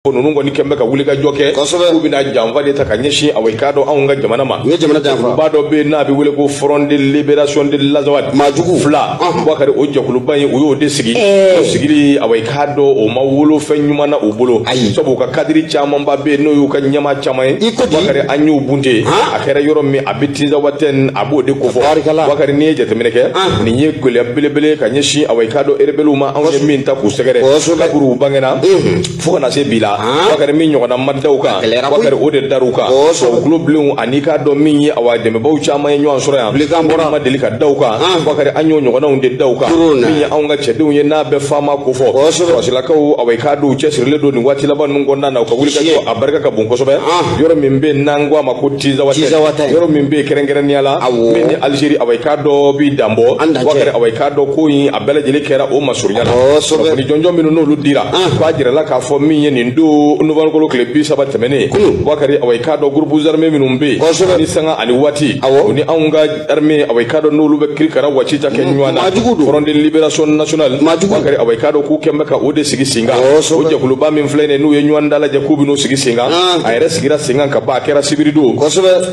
ko ninnu kɔni kun bɛ ka wulikajɔ kɛ k'u bɛna janfa de ta ka ɲɛsin awa i k'a dɔn anw ka jamana ma u ye jamana janfa ba dɔ bɛ yen n'a bɛ wele ko front de libération de l'azawad maajugu FLA bubakari o jɛkuluba in u y'o de sigi o sigili awa i k'a dɔn o ma wolo fɛn ɲuman na u bolo sabu u ka kadiri camanba bɛ yen n'o y'u ka ɲɛmaa caman ye bubakari an y'u bunte a kɛra yɔrɔ min a bɛ tinzawatɛn a b'o de kofɔ bubakari n'i ye jateminɛ kɛ nin ye gɛlɛya belebele ka ɲɛsin awa i k'a dɔn erebeliw ma anw ye min ta k'u sɛgɛrɛ kabiri u bangena fo ka na se bi la bakari min ɲɔgɔnna ma da u kan bakari o de dar'u kan o tulobilenw ani i k'a dɔn min ye awa dɛmɛbaaw caman ye ɲɔgɔn sɔrɔ yan bilekan bɔra ma deli ka da u kan bakari an y'o ɲɔgɔnnaw de da u kan min ye anw ka cɛdenw ye n'a bɛ FAMa kofɔ sɔrɔsilakaw awa i k'a dɔn u cɛsirilen don nin waati laban ninnu kɔnɔna na u ka wulikajɔ a barika ka bon kosɛbɛ yɔrɔ min bɛ n'an ko a ma ko tinzawatɛn yɔrɔ min bɛ kɛrɛnkɛrɛnnenya la min ni alizeri awa i k'a dɔn bi danbɔ bakari awa i k'a dɔn ko in a bɛɛ lajɛlen kɛra o masurunya la kunnafoni jɔnjɔn minnu n'olu dira k'a jirala k'a fɔ min ye nin don nowanburukalo tile bi saba tɛmɛnen bakari awa i k'a dɔn groupes armés minnu bɛ yen ni sanga ani waati o ni anw ka arime awa i k'a dɔn n'olu bɛ kirikara waati ta kɛ ɲɔgɔn na front de libération nationale bakari awa i k'a dɔn k'u kun bɛ ka o de sigi sen kan o jɛkuluba min filɛ nin n'u ye ɲɔgɔn dalajɛ k'u bɛn'u sigi sen kan a yɛrɛ sigira sen kan ka ban a kɛra sibiri don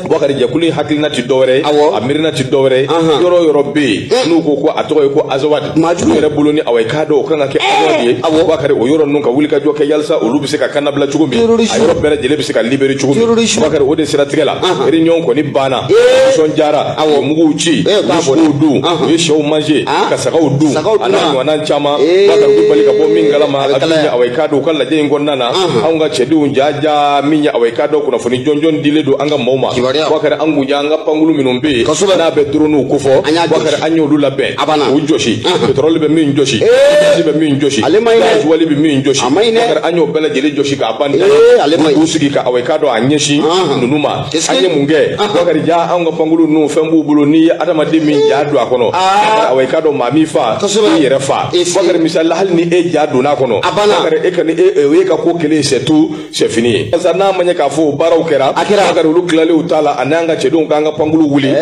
Bubakari jɛkulu in hakilina ti dɔwɛrɛ ye a miirina ti dɔwɛrɛ ye yɔrɔ yɔrɔ bɛ yen eh. n'u ko ko a tɔgɔ ye ko azawadi maajugu yɛrɛ bolo ni awa i k'a dɔn o kan ka kɛ eh. azawadi ye Bubakari o yɔrɔ ninnu ka wulikajɔ kɛ yalisa olu bɛ se ka kannabila cogo min a yɔrɔ bɛɛ lajɛlen bɛ se ka libéré cogo min Bubakari o de siratigɛ la réunion kɔni banna eh. nisɔndiyara ka muguw ci ka sogow dun u ye sɛw manger ah. ka sagaw dun a n'a ɲɔgɔnna caman Bubakari bɛ bali ka bɔ min kalama a bɛ awa i k'a dɔn u ka lajɛ in kɔnɔna na anw ka cɛdenw jaja min ye awa i k'a dɔn kunnafoni jɔnjɔn dilen don an ka maaw ma bakari an ko ja an ka pankulu minnu bɛ yen n'a bɛ droniw kofɔ bakari an y'olu labɛn u jɔsi pétrole bɛ min jɔsi gaz bɛ min jɔsi gazuwali bɛ min jɔsi bakari an y'o bɛɛ lajɛlen jɔsi ka ban k'u sigi ka awa i k'a dɔn a ɲɛsin ninnu ma an ye mun kɛ bakari ja anw ka pankuru ninnu fɛn b'u bolo n'i ye adamaden min ja don a kɔnɔ ah. awa i k'a dɔn maa min fa i yɛrɛ fa bakari misali la hali ni e ja donna a kɔnɔ bakari e kɔni e, e, o y'e ka ko kelen c'est tout c'est fini ye barisa n'a ma ɲɛ k'a fɔ o baaraw kɛra bakari olu tilalen t'a la ani an ka cɛdenw k'an ka pankuru wuli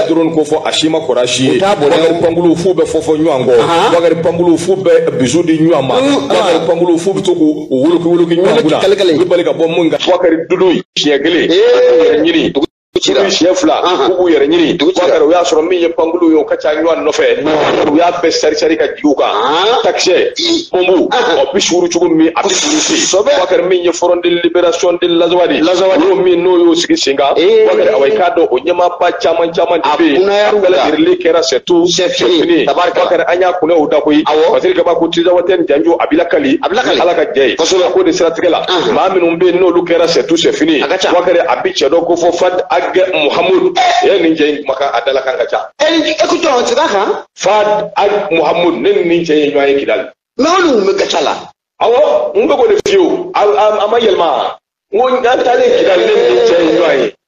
droni kofɔ a si ma kɔrɔ a si ye bakari pankuru f'u bɛ fofo ɲɔgɔn kɔ bakari pankuru f'u bɛ bisou di ɲɔgɔn ma bakari pankuru f'u bɛ to k'u woloki woloki ɲɔgɔn kunna u bɛ bali ka bɔ mun kan bakari dudu siɲɛ kelen u b'u yɛrɛ ɲini dugu cira siɲɛ fila u b'u yɛrɛ ɲini dugu cira u y'a sɔrɔ min ye pankulu ye o ka ca ɲɔgɔn nɔfɛ u y'a bɛɛ sarisari ka jigin u kan takisɛ bɔnbu ɔ bi suuru cogo min a bi suuru se bakari min ye front de liberation de lazawadi ye o minnu y'o sigi sen kan bakari awa i k'a dɔn o ɲɛmaaba caman caman de bɛ yen a bɛɛ lajɛlen kɛra c'est tout c'est fini bakari an y'a kuna u da koyi parce que kaba ko tizawatɛn janjo a bi lakali a bi lakali ala ka jɛ ye kosɛbɛ k'o de siratigɛ la kosɛbɛ maa minnu bɛ yen n'olu kɛra c'est tout c'est fini ye a ka ca bakari a bɛ cɛ dɔ kofɔ fad ag muhamudu e nin cɛ in makan a dalakan ka ca écoute an sira kan fad ag muhamudu ne ni nin cɛ in ye ɲɔgɔn ye kidali mais olu tun bɛ gatia la awɔ n bɛ k'o de f'i ye wo a ma yɛlɛma n ko n taalen kidali ne ni cɛ in ye ɲɔgɔn ye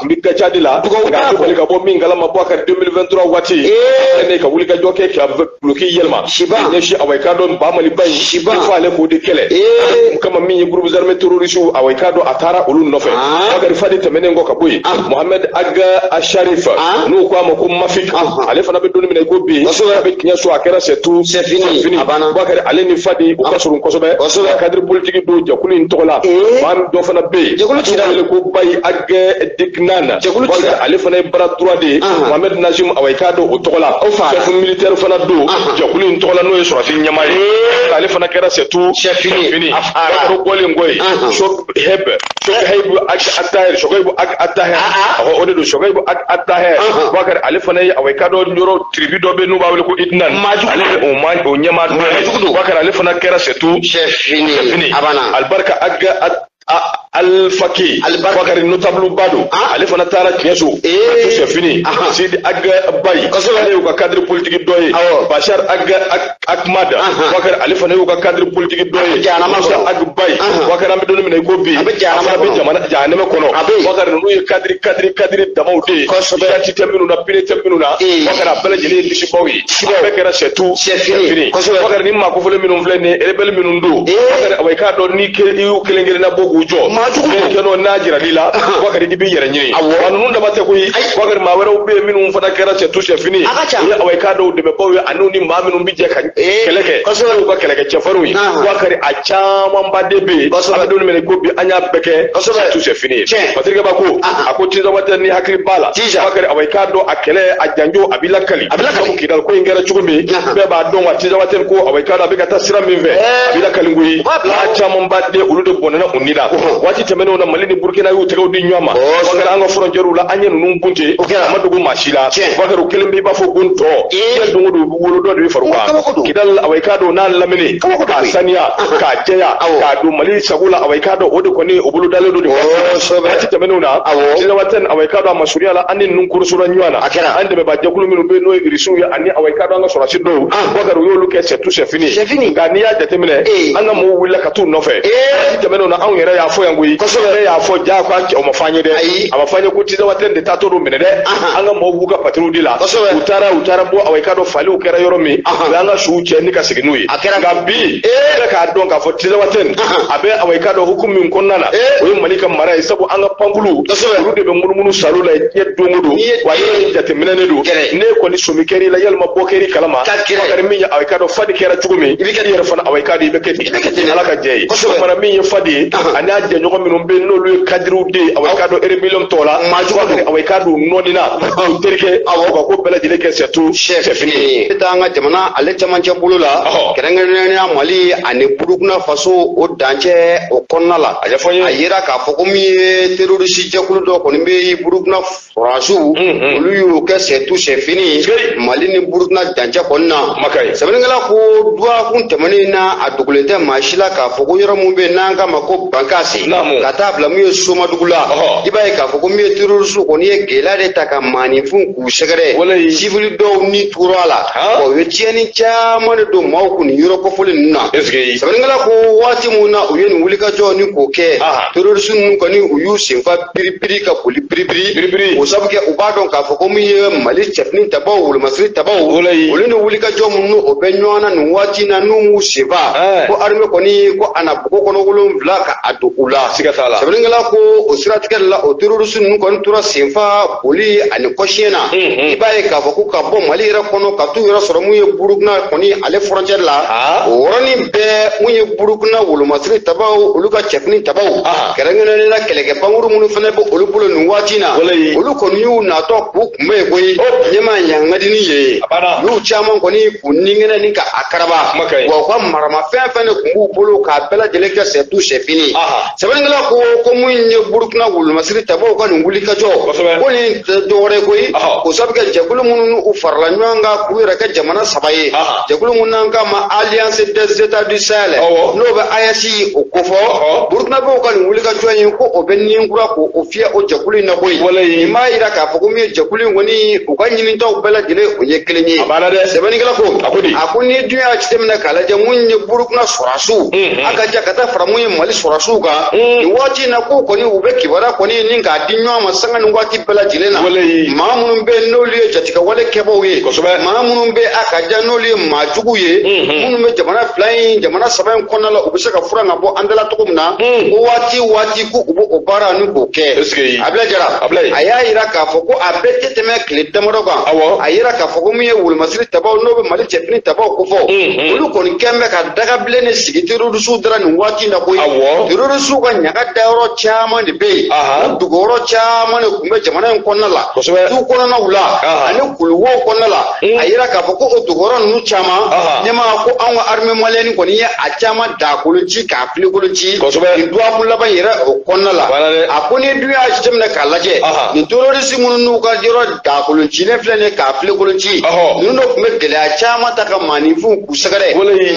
a tun bɛ gatia de la ka bali ka bɔ min kalama bɔ a ka 2023 waati ne ka wuli ka jɔ k'a ka duloki yɛlɛma ɲɛsin awa i k'a dɔn ba maliba in i b'a fɔ ale k'o de kɛlɛ mun kama min ye groupe armé terroriste awa i k'a dɔn a taara olu nɔfɛ bakari fadi tɛmɛnen kɔ ka bɔ yen mohamed ag asharif n'u ko a ma ko mafik ale fana an bɛ don min na i ko bi a bɛ tiɲɛso a kɛra c'est tout c'est fini bakari ale ni fadi u ka surun kosɛbɛ cadre politique don jɛkulu in tɔgɔ la maa dɔ fana bɛ yen a bɛ wele ko bayi ag dikinana ale fana ye bras droit de mohamɛd najim awa i k'a dɔn o tɔgɔ la chef militaire fana don jɛkulu in tɔgɔ la n'o ye sɔrɔdasi ɲɛmaa ye ale fana kɛra c'est tout fini o bɔlen kɔ yen sɔkɛyibu ag atahɛr sɔkɛyibu ag atahɛr ɔhɔ o de don sɔkɛyibu ag atahɛr bakari ale fana ye awa i k'a dɔn yɔrɔ tribu dɔ bɛ n'u b'a wele ko idinan ale de o ma o ɲɛmaa dɔ ye bakari ale fana kɛra c'est tout fini alibarika alifaki bakari notable ba don ah. ale fana taara tiɲɛso a c'est fini sidi ag bayi ale y'u ka cadre politique dɔ ye bashar ag akmada bakari ale fana y'u ka cadre politique dɔ ye musa ag bayi bakari an bɛ don min na i ko bi a fana bɛ jamana jahanama kɔnɔ bakari ninnu ye cadre cadre cadre damaw de ye sirati tɛ minnu na pere tɛ minnu na bakari a bɛɛ lajɛlen ye disibaw ye a bɛɛ kɛra c'est tout c'est fini kɔsɛbɛ nin maa kofɔlen minnu filɛ nin ye rebɛli minnu don bakari awa i k'a dɔn ni i y'u kelen kelen na bɔ k'u jɔ maajugu don kɛnɛ kan n'a jiral'i la bakari i b'i yɛrɛ ɲini wa ninnu dama tɛ koyi bakari maa wɛrɛw bɛ yen minnu fana kɛra c'est tout c'est fini ye awa i k'a dɔn u dɛmɛbaaw ye ani ni maa minnu bɛ jɛ ka kɛlɛ kɛ kɔsɛbɛ u ka kɛlɛkɛ cɛfarinw ye bakari a camanba de bɛ yen an bɛ don min na i ko bi an y'a bɛɛ kɛ c'est tout c'est fini ye patirikɛba ko a ko tizawatɛn ni hakili b'a la jija bakari awa i k'a dɔn a kɛlɛ a janjo a bi lakali a bi lakali sabu kidal ko in kɛra cogo min bɛɛ b'a dɔn wa tizawatɛn ko awa i k'a dɔn a bɛ ka taa sira min fɛ a bi lakali koyi n'a camanba de olu de bɔnɛna u ni la waati tɛmɛnenw na mali ni burukina y'u tɛgɛw di ɲɔgɔn ma bakari an ka fɔrɔncɛriw la an ye ninnu bunten a ma dogo maa si la bakari u kɛlen b'i b'a fɔ ko n tɔ diɲɛ don o don wolo dɔ de bɛ far'u kan kidal awa i k'a dɔn n'a lamini k'a saniya k'a jɛya k'a don mali sago la awa i k'a dɔn o de kɔni o bolo dalen don de waati tɛmɛnenw na tinzawatɛn awa i k'a dɔn a masurunya la an ni ninnu korosora ɲɔgɔn na an dɛmɛba jɛkulu minnu bɛ n'o ye irisiw ye ani awa i k'a dɔn an ka sɔrɔdasi dɔw bakari u y'olu kɛ c'est tout c'est fini nka n'i y'a jateminɛ an ka mɔgɔw wulila ka t'u nɔfɛ waati tɛmɛnenw na anw yɛrɛ y'a fɔ yan koyi ne y'a fɔ ja ko o ma fɔ an ye dɛ a ma fɔ an ye ko tinzawatɛn de taatɔ don minɛ dɛ an ka mɔgɔw b'u ka patrouille de la u taara u taara bɔ awa i k'a dɔn faliw kɛra yɔrɔ min u y'an ka suw cɛ ni ka segin n'u ye nka bi e k'a dɔn k'a fɔ tinzawatɛn a bɛ awa i k'a dɔn hukumu min kɔnɔna na o ye mali ka mara ye sabu an ka pankulu olu de bɛ munumunu salo la diɲɛ don o don wa yɛrɛ jateminɛnen don ne kɔni sɔmi kɛr'i la walima bɔ kɛr'i kalama kɛra min ye awa i k'a dɔn fadi kɛra cogo min i yɛrɛ fana awa i k'a dɔn i bɛ kɛ ten ala ka jɛ ye fana min ye fadi ye ani a jɛɲɔgɔn minnu bɛ yen n'olu ye kadiriw de ye awa i k'a dɔn erebɛliyɔn tɔw la maa jugu don awa i k'a dɔn u nɔɔni na u terikɛ awa ko bɛɛ lajɛlen kɛ c'est tout c'est fini ye e t'an ka jamana ale camancɛ bolo la kɛrɛnkɛrɛnnenya mali ani burukina faso o dancɛ o kɔnɔna la a yera k'a fɔ ko min ye terorisi jɛkulu dɔ kɔni bɛ yen burukina sɔrɔdasiw olu y'o kɛ c'est tout c'est fini mali ni burukina dancɛ kɔni na sɛbɛnnikɛla ko duwakun tɛmɛnen na a dogolen tɛ maa si la k'a fɔ ko yɔrɔ min bɛ yen n'an k'a ma ko bankasi ka taa bila min ye somadugu la i b'a ye k'a fɔ ko min ye terorisiw kɔni ye gɛlɛya de ta ka maaninfinw u sɛgɛrɛ sifili dɔw ni tora a la u ye tiɲɛni caman de don maaw kun nin yɔrɔ kofɔlen ninnu na sɛbɛnnikɛla ko waati min na u ye nin wulikajɔ ni k'o kɛ terorisi ninnu kɔni u y'u senfa piripiri ka boli piripiri o sabu kɛ u b'a dɔn k'a fɔ ko min ye mali cɛfini tabaw wolomasiri tabaw olu ni wulikajɔ minnu o bɛ ɲɔgɔn na nin waati in na n'u m'u senfa ko arime kɔni ko a na bogo kɔnɔ wolonwula ka a don u la sɛbɛnnikɛla ko o siratigɛ la o terorisi ninnu kɔni tora senfa boli ani kɔsiyɛn na i b'a ye k'a fɔ ko ka bɔ mali yɛrɛ kɔnɔ ka t'u yɛrɛ sɔrɔ mun ye burukina kɔni ale furancɛ la o yɔrɔnin bɛɛ mun ye burukina wolomasiri tabaw olu ka cɛfini tabaw kɛrɛnkɛrɛnnen na kɛlɛkɛ pankuru minnu fana bɛ olu bolo nin waati na olu kɔni y'u natɔ k'u kunbɛn yen koyi ɲɛma ɲangadini ye y'u caman kɔni k'u ninkɛnɛ ni ka a karaba wa u ka maramafɛn fɛn de tun b'u bolo k'a bɛɛ lajɛlen kɛ c'est tout c'est fini sɛbɛnnikɛla ko ko mun ye burukina wolomasiri tabaw ka nin wulikajɔ ko nin tɛ dɔwɛrɛ koyi o sabu kɛ jɛkulu minnu u farala ɲɔgɔn kan k'u yɛrɛ kɛ jamana saba ye jɛkulu minnu n'an k'a ma alliance des états du sahel n'o bɛ AES o kofɔ burukinabew ka nin wulikajɔ in ko o bɛ ni kura k'o fiyɛ o jɛkulu in na koyi nin b'a yira k'a fɔ ko min ye jɛkulu in kɔni u ka ɲinitaw bɛɛ lajɛlen o ye kelen ye sɛbɛnnikɛla ko a ko ni dun y'a jateminɛ k'a lajɛ mun ye burukina sɔrɔdasiw a ka ja ka taa fara mun ye mali sɔrɔdasiw kan nin waati in na k'u kɔni u bɛ kibaruya kɔni ni k'a di ɲɔgɔn ma sanga ni waati bɛɛ lajɛlen na maa minnu bɛ yen n'olu ye jatigɛwale kɛbaaw ye maa minnu bɛ a ka ja n'olu ye maa jugu ye minnu bɛ jamana fila in jamana saba in kɔnɔna la u bɛ se ka furan ka bɔ an dala cogo min na ko waati waati ko u bɛ o baara ni k'o kɛ abulayi jara a y'a yira k'a fɔ ko a bɛɛ tɛ tɛmɛ tile damadɔ kan a yira k'a fɔ ko min ye wolomasiri tabaw n'o bɛ mali cɛfini tabaw kofɔ Mm. olu kɔni kɛn bɛ ka dagabilen de sigi terorisiw dara nin waati in na koyi Awɔ. terorisiw ka ɲaga dayɔrɔ caman de bɛ yen Aha. o dogoyɔrɔ caman de tun bɛ jamana in kɔnɔna la Kosɛbɛ. tu kɔnɔnaw la Aha. ani kuluwo kɔnɔna la Mm. a yira k'a fɔ ko o dogoyɔrɔ ninnu caman Aha. ɲɛma ko anw ka armée malienne kɔni ye a caman daa kolon ci k'a filen kolon ci Kosɛbɛ. nin duwakun laban in yɛrɛ o kɔnɔna la Voilà dɛ. a ko n'i dun y'a jateminɛ k'a lajɛ Aha. nin terorisi minnu n'u ka yɔrɔ daa kolon cilen filɛ nin ye k'a filen kolon ci ninnu dɔ tun bɛ gɛlɛya caman ta ka maaninfinw k'u sɛgɛrɛ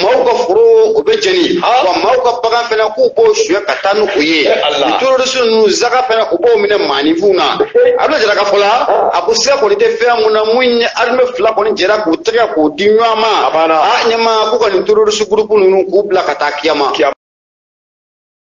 maaw ka foro o bɛ jeni wa maaw ka bagan fana k'u b'o suɲɛ ka taa n'o ye nin terorisi ninnu zaga fana u b'o minɛ maaninfinw na abulayi jara ka fɔ la a ko siga kɔni tɛ fɛn mun na mun ye arime fila kɔni jɛra k'u tɛgɛ k'u di ɲɔgɔn ma a ɲɛma k'u ka nin terorisi gurupu ninnu k'u bila ka taa kiyama